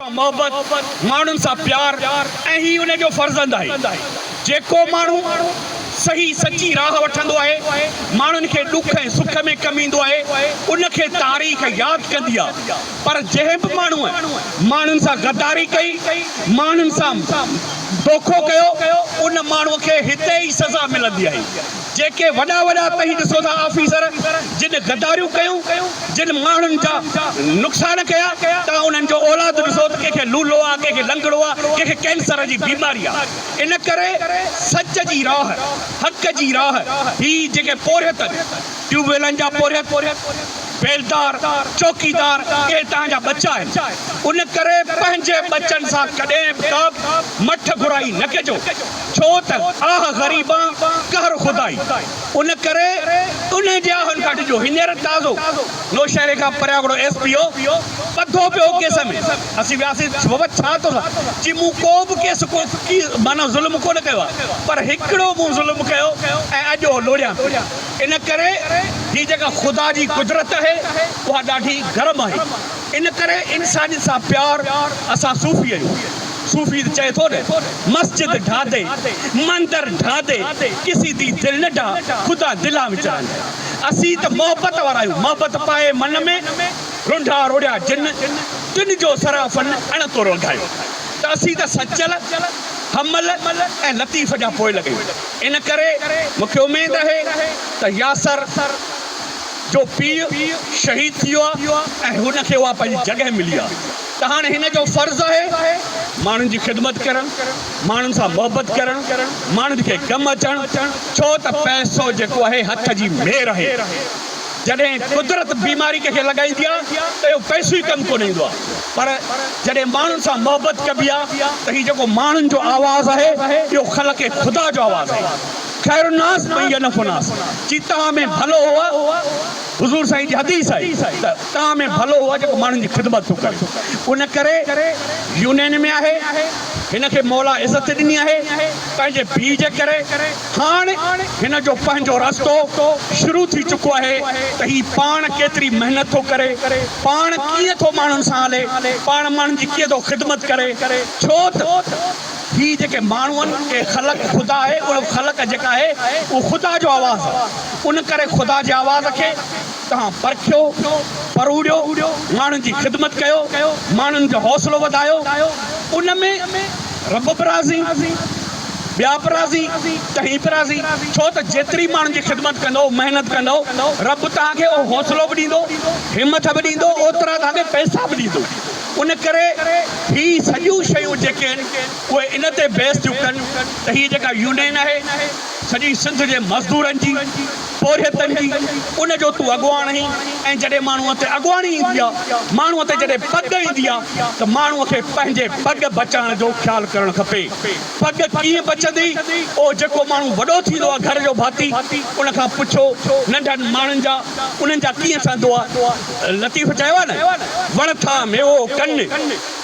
محبت، ماڻهن سان پيار ۽ هي ان جو فرزند آهي. جيڪو ماڻهو صحيح سچي راهه وٺندو آهي، ماڻهن کي ڏک ۽ سک ۾ ڪم ايندو آهي، ان کي تاريخ ياد ڪندي آهي. پر جنهن به ماڻهوء ماڻهن سان غداري ڪئي، ماڻهن سان دوکو ڪيو، ان ماڻهوء کي هتي ئي سزا ملندي آهي. جيڪي وڏا وڏا توهين ڏسو ٿا آفيسر جن غداريون ڪيون جن ماڻهن جا نقصان ڪيا توهان انهن جو اولاد ڏسو ته ڪنهن کي لولو آ ڪنهن کي لنگڙو آ ڪنهن کي ڪينسر جي بيماري آ ان ڪري سچ جي راهه حق جي راهه هي جيڪي پورهيت ٽيوب ويلن جا پورهيت بيلدار چوڪيدار اهي توهان جا ٻچا آهن ان ڪري پنهنجي ٻچن سان ڪڏهن به ڪابه مٺ گهرائي نه ڪجو. ڇو ته آھ غريبان قهر خدائي ان ڪري انهن جي آھن کان ڊڄو هينئر تازو نوشهري کان پرياگڙو ايس پي او ٻڌو پيو هو ڪيس ۾ اسين وياسين بابا ڇا تو سان چي مون ڪو به ڪيس ڪو ڪي معنيٰ ظلم ڪو نه ڪيو آ پر هڪڙو مون ظلم ڪيو ۽ اڄ اهو لوڙيان ٿو ان ڪري هي جيڪا خدا جي قدرت آھي اها ڏاڍي گرم آھي ان ڪري انسانيت سان پيار اسان صوفي آھيون. صوفي ته چئي ٿو نه، مسجد ڍا دي، مندر ڍا دي، ڪسي دي دل نه ڍا، خدا دلان وچ رهندي. اسين ته محبت وارا آهيون، محبت پائي من ۾، رونڍا روڙيا جن، تن جو سرافن اڻ تو رونڌايو. ته اسين ته سچل، حمل ۽ لطيف جا پوئلڳ آهيون. ان ڪري مون کي اميد آهي ته ياسر جو پيء شهيد ٿي ويو آهي ۽ هن کي اها پنهنجي جڳهه ملي آهي. ته هاڻي هن جو فرض آهي ماڻهن جي خدمت ڪرڻ، ماڻهن سان محبت ڪرڻ، ماڻهن کي ڪم اچڻ، ڇو ته پئسو جيڪو آهي هٿ جي مير آهي، جڏهن قدرت بيماري ڪنهن کي لڳائيندي آهي ته اهو پئسو ئي ڪم ڪونه ايندو آهي پر جڏهن ماڻهن سان محبت ڪبي آهي ته هي جيڪو ماڻهن جو آواز آهي اهو خلق خدا جو آواز آهي خير الناس من ينف الناس چيتاهه ۾ ڀلو هو حضور سائين جي حديث آهي ته تان ۾ ڀلو هو جيڪو ماڻهن جي خدمت ٿو ڪري ان ڪري يونين ۾ آهي هن کي مولا عزت ڏني آهي پنهنجي ڀي جي ڪري هاڻ هن جو پنهنجو رستو شروع ٿي چڪو آهي ته هي پاڻ ڪيتري محنت ٿو ڪري پاڻ ڪيئن ٿو ماڻهن سان هلي پاڻ ماڻهن جي ڪيئن ٿو خدمت ڪري ڇو ته هي جيڪي ماڻهو آهن اهي خلق خدا آهي اهو خلق جيڪا آهي اهو خدا جو آواز آهي ان ڪري خدا جي آواز کي تهان پرکيو، پروڙيو، ماڻهن جي خدمت ڪيو، ماڻهن جو حوصلو وڌايو، ان ۾ رب به راضي، ٻيا به راضي، تهين به راضي، ڇو ته جيتري ماڻهن جي خدمت ڪندؤ، محنت ڪندؤ، رب توهان کي اهو حوصلو به ڏيندو، همٿ به ڏيندو، اوترا توهان کي پئسا به ڏيندو. ان ڪري هي سڄيون شيون جيڪي آهن، اهي ان تي بيس ٿيون ڪن ته هيء جيڪا يونين آهي، سڄي سنڌ جي مزدورن جي، پورهيتن جي، ان جو تون اڳواڻ آهين ۽ جڏهن ماڻهوء تي اڳواڻي ايندي آ، ماڻهوء تي جڏهن پڳ ايندي آ ته ماڻهوء کي پنهنجي پڳ بچائڻ جو خيال ڪرڻ کپي. پڳ ڪيئن بچندي؟ اهو جيڪو ماڻهو وڏو ٿيندو آ گهر جو ڀاتي، ان کان پڇو ننڍن ماڻهن جا انهن جا ڪيئن سهندو آ. لطيف چيو آ نه، وڻ ٿا ميوو ڪن.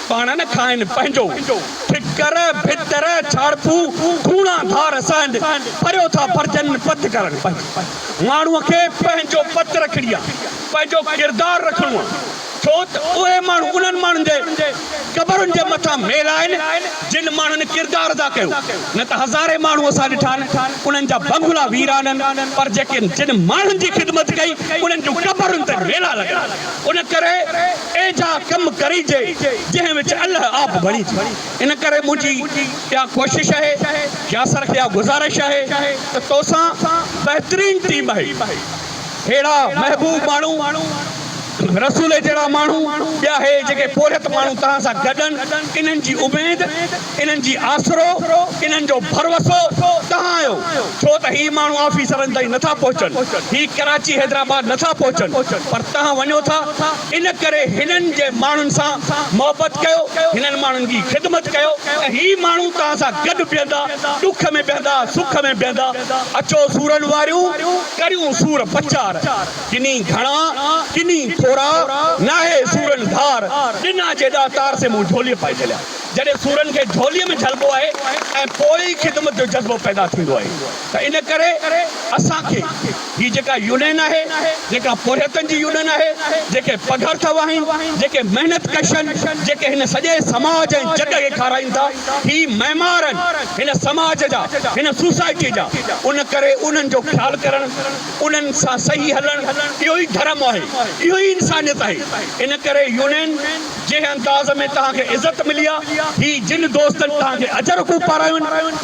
پاڻ نه کائن پنهنجو ٺڪر ڀتر ڇاڙپو ڪوڻا ڌار سهند پريو ٿا پرجن پت ڪرڻ پنهنجي ماڻهوء کي پنهنجو پت رکڻي آ پنهنجو ڪردار رکڻو آ ڇو ته اهي ماڻهو انهن ماڻهن جي قبرن جي مٿان ميل آهن جن ماڻهن ڪردار ادا ڪيو نه ته هزارين ماڻهو اسان ڏٺا آهن انهن جا بنگلا ويران آهن پر جيڪي جن ماڻهن جي خدمت ڪئي انهن جون قبرن تي ميلا لڳل آهن ان ڪري ايجھا ڪم ڪريجي جنهن وچ الله آپ بڻيجي ان ڪري منهنجي اها ڪوشش آهي ياسر کي اها گذارش آهي ته توسان بهترين ٽيم آهي ههڙا محبوب ماڻهو رسولي جهڙا ماڻهو ٻيا هي جيڪي پورهيت ماڻهو توهان سان گڏن انهن جي اميد انهن جي آسرو، انهن جو ڀروسو توهان آهيو، ڇو ته هي ماڻهو آفيسرن تائين نٿا پهچن، هي ڪراچي حيدرآباد نٿا پهچن، پر توهان وڃو ٿا، ان ڪري هنن جي ماڻهن سان محبت ڪيو، هنن ماڻهن جي خدمت ڪيو ته هي ماڻهو توهان سان گڏ بيهندا، ڏک ۾ بيهندا، سک ۾ بيهندا، اچو سورن واريون، ڪريون سور پچار، ڪني گهڻا، ڪني ٿورا، ناهي سورن ڌار، ڏنا جيڏا تار سي مون جهوليء پائي جهليا. جڏهن سورن کي جهوليء ۾ جهلبو آهي ۽ پوء ئي خدمت جو جذبو پيدا ٿيندو آهي ته ان ڪري اسان کي هي جيڪا يونين آهي، جيڪا پورهيتن جي يونين آهي، جيڪي پگهر ٿا وهائين، جيڪي محنت ڪش آهن، جيڪي هن سڄي سماج ۽ جڳ کي کارائين ٿا، هي معمار آهن هن سماج جا، هن سوسائٽيء جا، ان ڪري انهن جو خيال ڪرڻ، انهن سان صحيح هلڻ اهو ئي ڌرم آهي، اهو ئي انسانيت آهي، ان ڪري يونين. جنهن انداز ۾ توهان کي عزت ملي آ، هي جن دوستن توهان کي اجرڪون پارايون،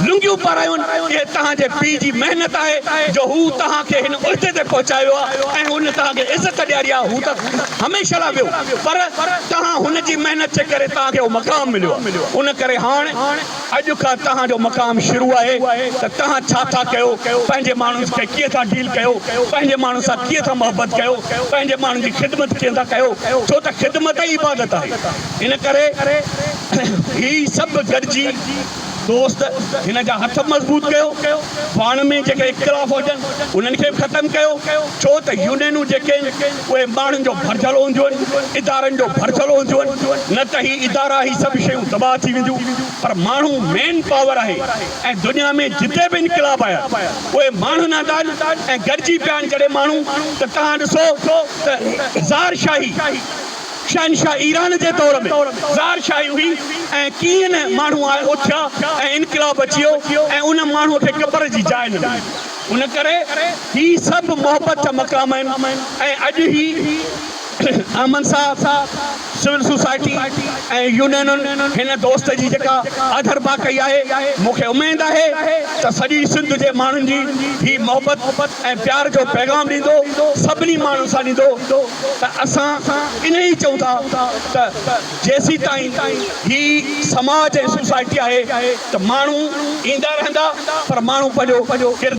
لنگيون پارايون، اهي توهان جي پيء جي محنت آهي جو هو توهان کي هن عهدي تي پهچايو ويو آ ۽ هن توهان کي عزت ڏياري آ، هو ته هميشه لاء ويو پر توهان هن جي محنت جي ڪري توهان کي اهو مقام مليو آ، ان ڪري هاڻ. اڄ کان توهان جو مقام شروع آهي ته توهان ڇا ٿا ڪيو، پنهنجي ماڻهن کي ڪيئن ٿا ڊيل ڪيو، پنهنجي ماڻهن سان ڪيئن ٿا محبت ڪيو، پنهنجي ماڻهن جي خدمت ڪيئن ٿا ڪيو، ڇو ته خدمت ئي عبادت آهي. ان ڪري هي سڀ گڏجي دوست هن جا هٿ مضبوط ڪيو، پاڻ ۾ جيڪي اختلاف هجن انهن کي به ختم ڪيو، ڇو ته يونينون جيڪي اهي ماڻهن جو ڀرجهل هونديون، ادارن جو ڀرجهل هونديون، نه ته هي ادارا هي سڀ شيون تباهه ٿي وينديون پر ماڻهو مين پاور آهي ۽ دنيا ۾ جتي به انقلاب آيا اهي ماڻهن آندا آهن ۽ گڏجي پيا آهن جڏهن ماڻهو ته توهان ڏسو ته زار شاهي شهنشاهه ايران جي دور ۾ زار شاهي هئي ۽ ڪيئن نه ماڻهو آئي اٿيا ۽ انقلاب اچي ويو ۽ ان ماڻهو کي قبر جي جاء نه ملي. ان ڪري هي سڀ محبت جا مقام آهن ۽ اڄ هي احمد صاحب، سول سوسائٽي ۽ يونينن هن دوست جي جيڪا آڌرڀاء ڪئي آهي، مون کي اميد آهي ته سڄي سنڌ جي ماڻهن جي هي محبت ۽ پيار جو پيغام ڏيندو، سڀني ماڻهن سان ڏيندو ته اسان انهيء چئون ٿا ته جيسيتائين هي سماج ۽ سوسائٽي آهي ته ماڻهو ايندا رهندا پر ماڻهو پنهنجو ڪردار